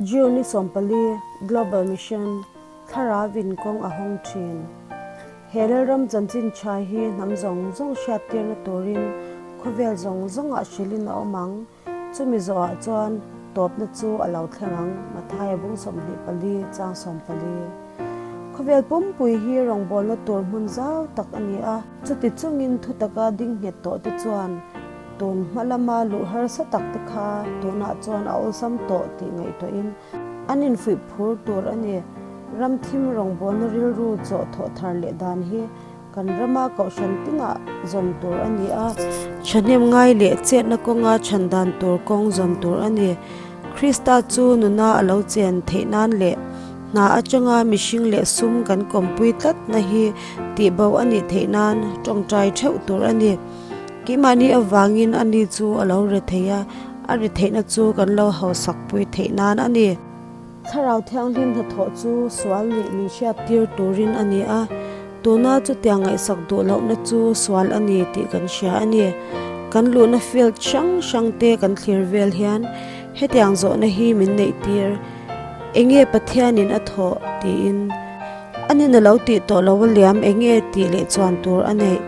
June ni sawmpali, Global Mission Thlarau vin kawng a hawng thin. He lalram chanchin tha hi hnam zawng zawng hriattirna turin khawvel zawng zawngah hrilhin a awm ang. Chumi zawhah chuan tawpna chu a lo thleng ang, Matthaya bung sawmhnih pali, chang sawmpali. Khawvel pumpui hi rawngbawlna tur hmun zau tak a ni a. Chuti chungin thutaka dingnghet tawhte chuan. Tawn hma lama luh harsa tak te kha tunah chuan a awlsam tawh tih ngaihtuahin an infuih phur tur a ni. Ram thim rawngbawlna rilru chawh thawh thar leh dan hi kan rama kohhran tingah zawn tur a ni a. Thahnem ngai leh chetna kawnga chhan dan tur kawng zawn tur a ni. Krista chu nuna a lo chen theih nan leh hna atanga mihring leh sum kan kawmpui tlatna hi tihbauh a nih theih nan tawngtai theuh tur a ni. Keimahni avangin a ni chu a lo re thei a, a re theihna chu kan lo hausak pui theih nan a ni. Thlarau Thianghlim hnathawh chu sual nih min hriat tir turin a ni a, tuna chutia ngaihsak duh lohna chu sual a ni tih kan hria a ni. Kan luhna field hrang hrang te kan thlir vel hian hetiang zawhna hi min neih tir, Enge Pathianin a thawh? tiin. A nen a lo tih tawh lo a liam, eng nge tih leh chuan tur a neih.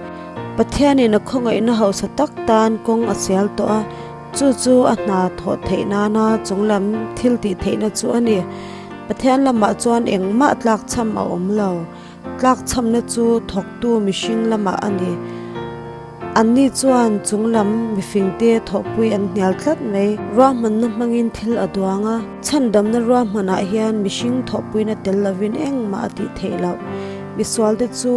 Pathianin a khawngaihna hausa tak tan kawng a sial tawh a, chu chu a hna thawh theih nana chunglam thil tih theihna chu a ni. Pathian lamah chuan engmah tlak chham a awm lo, tlak chhamna chu thawktu mihring lamah a ni. An ni chuan chung lam mifingte thawhpui an hnial tlat mai. Ruahmanna hmangin thil a duang a, chhandamna ruahmanah hian mihring thawhpuina tel lovin engmah a tih theih loh. Misualte chu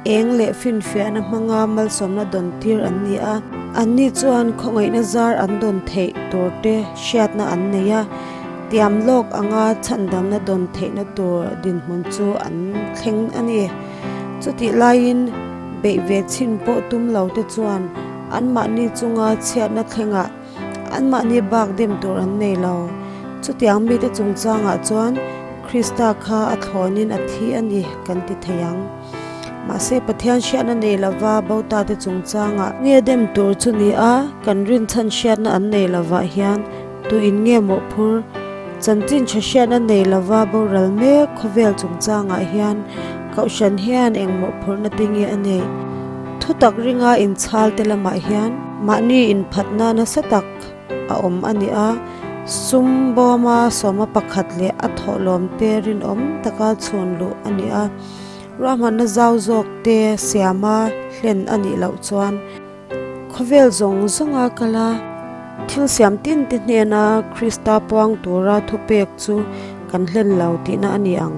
eng leh finfiahna hmanga malsawmna dawntir an ni a. An ni chuan khawngaihna zar an dawn theih turte hriatna an nei a, tiam lawk anga chhandamna dawn theihna tur dinhmun chu an thleng a ni. Chutih laiin, beih ve chhin pawh tum lote chuan anmahni chunga chhiatna thlengah anmahni bak dem tur an nei lo. Chutiang mite chungchangah chuan Krista kha a thlawnin a thi a ni kan ti thei ang. Mahse, Pathian hriatna nei lova botate chungchangah, nge dem tur chu nia kan rinchhan hriatna an nei lovah hian, Tu in nge mawh phur? Chanchin tha hriat a nei lova boral mek khawvel chungchangah hian Kohhran hian eng mawh phur na pi nge a nei? Thutak ringa inchhal te lamah hian. Mahni inphatna nasa tak a awm a ni a, sum bawma sawma pakhat leh a thawhlawm te rinawm taka chhun luh a ni a, ruahmanna zau zawk te siama hlen a nih loh chuan. Khawvel zawng zawnga kala thil siam tin te hnena Krista puang tura thupek chu kan hlen lo tihna a ni ang.